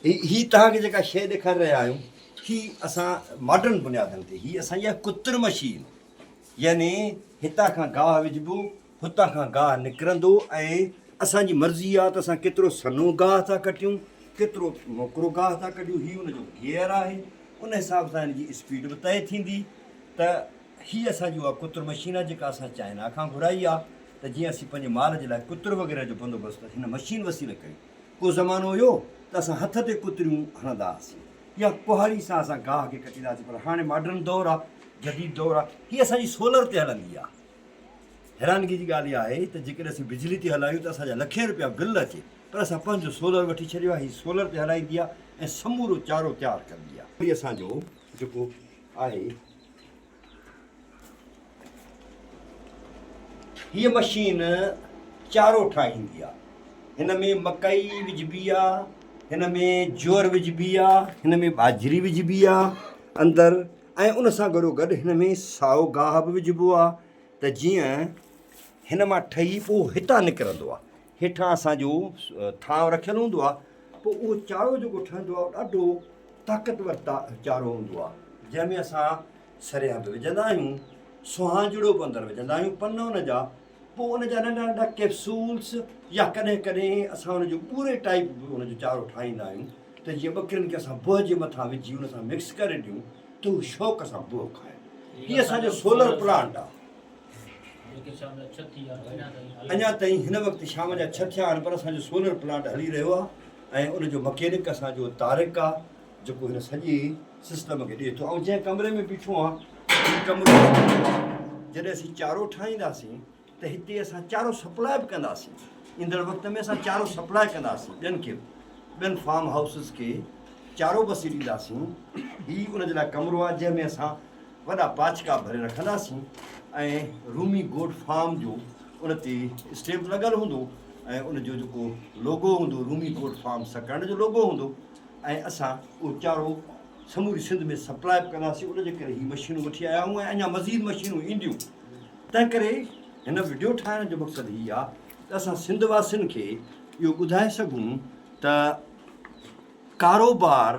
هي توهان کي جيڪا شيء ڏيکاري رهيا آهيون، هي اسان ماڊرن بنيادن تي، هي اسان جي آهي ڪترم شيل، يعني هتان کان گاهه وجهبو، هتان کان گاهه نڪرندو ۽ اسان جي مرضي آهي ته اسان ڪيترو سنهو گاهه ٿا ڪٽيون، ڪيترو موڪرو گاهه ٿا ڪڍيون، هي ان جو گيئر آهي، ان حساب سان هن جي اسپيڊ به طئي ٿيندي ته هي اسان جي اها ڪتر مشين آهي جيڪا اسان چائنا کان گهرائي آهي ته جيئن اسين پنهنجي مال جي لاء ڪتر وغيره جو بندوبست هن مشين وسيلي ڪيون. ڪو زمانو هيو ته اسان هٿ تي ڪتريون هڻندا هئاسين يا ڪهاڙي سان اسان گاهه کي ڪٽيندا هئاسين پر هاڻي ماڊرن دور آهي، جديد دور آهي، هي اسان جي سولر تي هلندي آهي. حيرانگي جي ڳالهه اها آهي ته جيڪڏهن اسين بجلي تي هلايون ته اسان جا لکين روپيا بل اچي پر اسان پنهنجو سولر وٺي ڇڏيو آهي، هي سولر تي هلائيندي آهي ۽ سمورو چارو تيار ڪندي آهي. هي اسان جو جيڪو آهي. هيء مشين چارو ٺاهيندي آ. هن ۾ مڪئي وجهبي آ، هن ۾ جوئر وجهبي آ، هن ۾ ٻاجهري وجهبي آ اندر ۽ ان سان گڏو گڏ هن ۾ سائو گاهه به وجهبو آ ته جيئن هن مان ٺهي پوء هتان نڪرندو آ. هيٺان اسان جو ٿانو رکيل هوندو آهي پوء اهو چارو جيڪو ٺهندو آهي ڏاڍو طاقتور چارو هوندو آهي جنهن ۾ اسان سريان به وجهندا آهيون سهانجڙو به اندر وجهندا آهيون پن ان جا پوء ان جا ننڍا ننڍا ڪيپسولس يا ڪڏهن ڪڏهن اسان ان جو ٻوري ٽائپ به ان جو چارو ٺاهيندا آهيون ته جيئن ٻڪرين کي اسان بوه جي مٿان وجهي ان سان مڪس ڪري ڏيون ته هو شوق سان بوه کائن هي اسان جو سولر پلانٽ آهي اڃا تائين هن وقت شام جا ڇهه ٿيا آهن پر اسان جو سولر پلانٽ هلي رهيو آهي ۽ ان جو مڪينڪ اسان جو طارق آهي جيڪو هن سڄي سسٽم کي ڏئي ٿو. آئون جنهن ڪمري ۾ بيٺو آهيان هي ڪمرو جڏهن اسين چارو ٺاهينداسين ته هتي اسان چارو سپلاء به ڪنداسين. ايندڙ وقت ۾ اسان چارو سپلاء ڪنداسين ٻين کي به. ٻين فارم هائوسز کي چارو به اسين ڏينداسين. هي ان جي لاء ڪمرو آهي جنهن ۾ اسان وڏا پاڇڪا ڀري رکنداسين ۽ رومي گوٽ فارم جو ان تي اسٽيمپ لڳل هوندو ۽ ان جو جيڪو لوگو هوندو رومي گوٽ فارم سڪرنڊ جو لوگو هوندو ۽ اسان اهو چارو سموري سنڌ ۾ سپلاء به ڪنداسين ان جي ڪري هي مشينون وٺي آيا آهيون ۽ اڃا مزيد مشينون اينديون تنهن ڪري هن وڊيو ٺاهڻ جو مقصد هي آ ته اسان سنڌ واسين کي اهو ٻڌائي سگهون ته ڪاروبار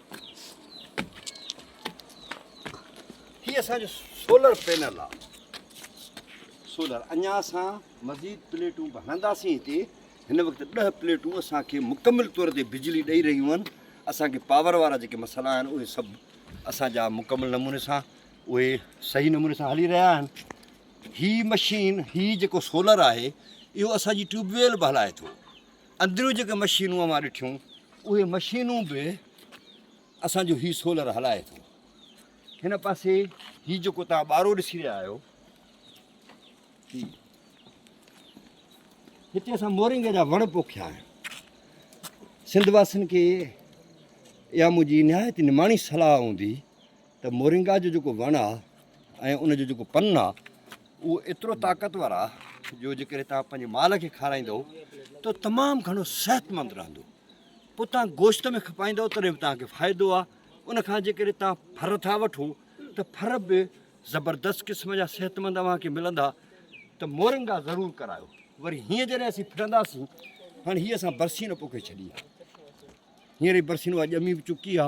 هي اسان جو سولر پينل آ سولر اڃا اسان مزيد پليٽون به هڻنداسين هتي هن وقت ڏه پليٽون اسان کي مڪمل طور تي بجلي ڏئي رهيون آهن اسان کي پاور وارا جيڪي مسئلا آهن اهي سڀ اسان جا مڪمل نموني سان اهي صحيح نموني سان هلي رهيا آهن هي مشين هي جيڪو سولر آهي اهو اسان جي ٽيوب ويل به هلائي ٿو اندريون جيڪي مشينون اوهان ڏٺيون اهي مشينون به اسان جو هي سولر هلائي ٿو هن پاسي هي جيڪو تان ٻارو ڏسي رهيا آهيو هي هتي اسان مورنگ جا وڻ پوکيا آهن سنڌ واسين کي يا منهنجي نهايت نماڻي صلاح هوندي ته مورنگا جو جيڪو وڻ آ ۽ ان جو جيڪو پن آ اهو ايترو طاقتور آ جو جيڪڏهن توهان پنهنجي مال کي کارائيندؤ ته تمام گهڻو صحتمند رهندو پوء توهان گوشت ۾ کپائيندؤ تڏهن به توهان کي فائدو آ ان کان جيڪڏهن توهان ڦر ٿا وٺو ته ڦر به زبردست قسم جا صحتمند اوهان کي ملندا ته مورنگا ضرور ڪرايو وري هينئر جڏهن اسين ڦرنداسين هاڻي هيء اسان برسين پوکي ڇڏي آ هينئر هي برسين اها ڄمي به چڪي آ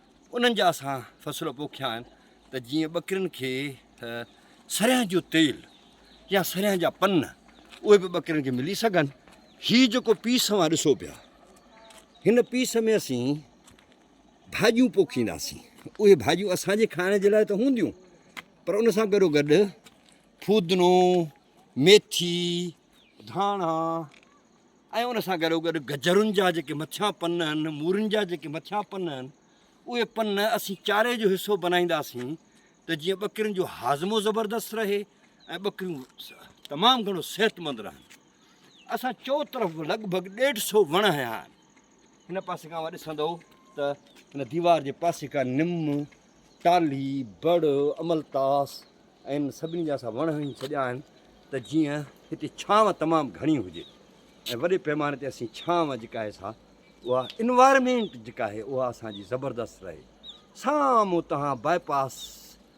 انهن جا اسان فصل پوکيا آهن ته جيئن ٻڪرين کي سرهن جو تيل يا سرهن جا پن اهي به ٻڪرين کي ملي سگهن هي جيڪو پيس اوهان ڏسو پيا هن پيس ۾ اسين ڀاڄيون پوکينداسين اهي ڀاڄيون اسانجي کائڻ جي لاء ته هونديون پر ان سان گڏو گڏ فودنو ميٿي ڌاڻا ۽ ان سان گڏوگڏ گجرن جا جيڪي مٿيان پن آهن، مورن جا جيڪي مٿيان پن آهن، اهي پن اسين چاري جو حصو بنائينداسين ته جيئن ٻڪرين جو هاضمو زبردست رهي ۽ ٻڪريون تمام گهڻو صحتمند رهن. اسان چوطرف لڳ ڀڳ ڏيڍ سو وڻ هنيا آهن. هن پاسي کان اوهان ڏسندؤ ته هن ديوار جي پاسي کان نم، ٽالهي، بڙ، املتاس ۽ سڀني جا اسان وڻ هڻي ڇڏيا آهن ته جيئن هتي ڇانو تمام گهڻي هجي ۽ وڏي پيماني تي اسين ڇانو جيڪا آهي سا اها انوائرمينٽ جيڪا آهي اها اسان جي زبردست رهي. سامهون توهان باء پاس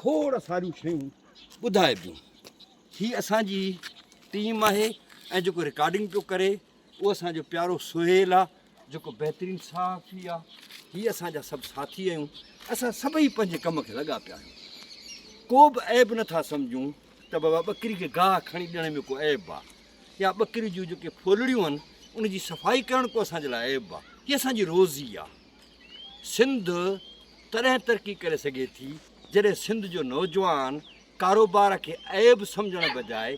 کوڙ ساريون شيون ٻڌائبيون. هي اسان جي ٽيم آهي ۽ جيڪو رڪارڊنگ پيو ڪري اهو اسان جو پيارو سهيل آهي جيڪو بهترين صحافي آهي. هي اسان جا سڀ ساٿي آهيون. اسان سڀئي پنهنجي ڪم کي لڳا پيا آهيون. ڪو به عيب نه ٿا سمجهون ته بابا ٻڪري کي گاهه کڻي ڏيڻ ۾ ڪو عيب آهي يا ٻڪري جون جيڪي ڦولڙيون آهن ان جي صفائي ڪرڻ ڪو اسان جي لاء عيب آهي. هي اسان جي روزي آهي. سنڌ تڏهن ترقي ڪري سگهي ٿي جڏهن سنڌ جو نوجوان ڪاروبار کي عيب سمجهڻ بجاء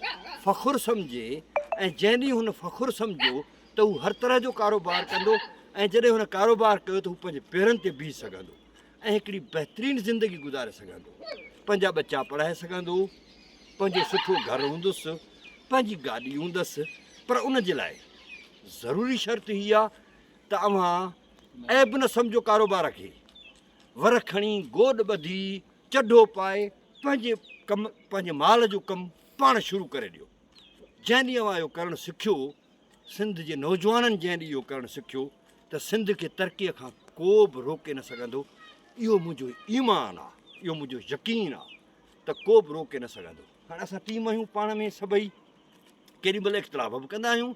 فخر سمجهي ۽ جنهن ڏينهن هن فخر سمجهيو ته هو هر طرح جو ڪاروبار ڪندو ۽ جڏهن هن ڪاروبار ڪيو ته هو پنهنجي پيرن تي بيهي سگهندو ۽ هڪڙي بهترين زندگي گذاري سگهندو پنهنجا ٻچا پڙهائي سگهندو پنهنجو سٺو گهر هوندس پنهنجي گاڏي هوندس پر ان جي لاء ضروري شرط هي آهي ته اوهان عيب نه سمجهو ڪاروبار کي، ورهه کڻي گوڏ ٻڌي چڍو پائي پنهنجي ڪم پنهنجي مال جو ڪم پاڻ شروع ڪري ڏيو. جنهن ڏينهن اوهان اهو ڪرڻ سکيو، سنڌ جي نوجوانن جنهن ڏينهن اهو ڪرڻ سکيو ته سنڌ کي ترقيء کان ڪو به روڪي نه سگهندو، اهو منهنجو ايمان آ، اهو منهنجو يقين آ ته ڪو به روڪي نه سگهندو. هاڻ اسان ٽيم آهيون پاڻ ۾ سڀئي ڪيڏي مهل اختلاف به ڪندا آهيون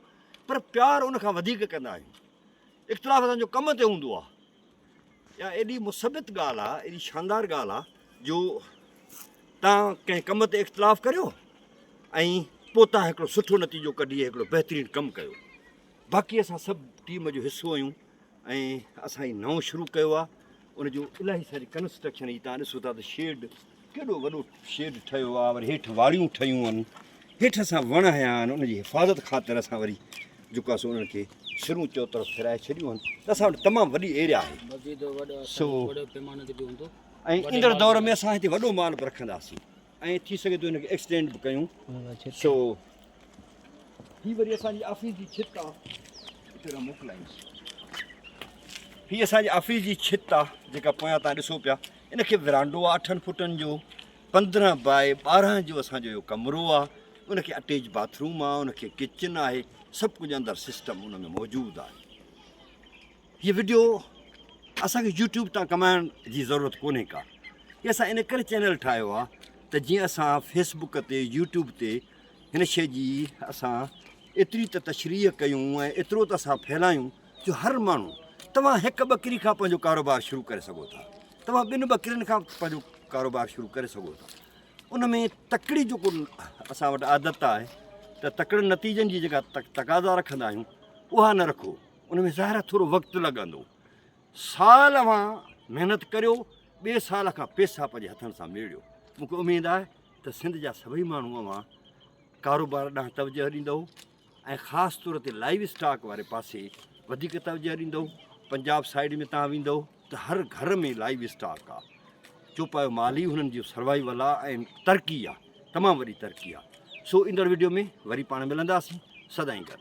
پر پيار ان کان وڌيڪ ڪندا آهيون اختلاف اسان جو ڪم تي هوندو آهي يا ايڏي مثبت ڳالھ آ ايڏي شاندار ڳالھ آ جو تان ڪنهن ڪم تي اختلاف ڪريو ۽ پوء تان هڪڙو سٺو نتيجو ڪڍي هڪڙو بهترين ڪم ڪيو باقي اسان سڀ ٽيم جو حصو آهيون ۽ اسان هي نئون شروع ڪيو آ ان جو الاهي ساري ڪنسٽرڪشن هي تان ڏسو ٿا ته شيڊ ڪيڏو وڏو شيڊ ٺهيو آ وري هيٺ واڙيون ٺهيون ان هيٺ اسان وڻ هيا آهن ان جي حفاظت خاطر اسان وري جيڪو آ سو انهن کي سرون چو طرف ڦيرائي ڇڏيون آهن ته اسان وٽ تمام وڏي ايريا آهي سو ۽ ايندڙ دور ۾ اسان هتي وڏو مال به رکنداسين ۽ ٿي سگهي ٿو ان کي ايڪسٽينڊ به ڪيون سو هي وري اسان جي آفيس جي ڇت آهي موڪلائيس هي اسان جي آفيس جي ڇت آهي جيڪا پويان تان ڏسو پيا ان کي ورانڊو آهي اٺن فٽن جو پندرهن بائي ٻارهن جو اسانجو اهو ڪمرو آهي ان کي اٽيچ باٿروم آهي ان کي ڪچن آهي سڀ ڪجهه اندر سسٽم ان ۾ موجود آهي هي وڊيو اسان کي يوٽيوب تان ڪمائڻ جي ضرورت ڪونهي ڪا هي اسان ان ڪري چينل ٺاهيو آ ته جيئن اسان فيس بوڪ تي يوٽيوب تي هن شي جي اسان ايتري ته تشريح ڪيون ۽ ايترو ته اسان ڦهلايون جو هر ماڻهو توهان هڪ ٻڪري کان پنهنجو ڪاروبار شروع ڪري سگهو ٿا توهان ٻن ٻڪرين کان پنهنجو ڪاروبار شروع ڪري سگهو ٿا ان ۾ تڪڙي جو ڪن اسان وٽ عادت آهي ته تڪڙن نتيجن جي جيڪا تقاضا رکندا آهيون اها نه رکو ان ۾ ظاهر آهي ٿورو وقت لڳندو. سال اوهان محنت ڪريو، ٻئي سال کان پيسا پنهنجي هٿن سان ميڙيو. مون کي اميد آهي ته سنڌ جا سڀئي ماڻهو اوهان ڪاروبار ڏانهن توجهه ڏيندؤ ۽ خاص طور تي لائيو اسٽاڪ واري پاسي وڌيڪ توجهه ڏيندؤ. پنجاب سائيڊ ۾ تان ويندؤ ته هر گهر ۾ لائيو اسٽاڪ آهي. چوپايو مال ئي هنن جو سروائيول آهي ۽ ترقي آهي، تمام وڏي ترقي آهي. سو ايندڙ وڊيو ۾ وري پاڻ ملنداسين. سدائين گڏ.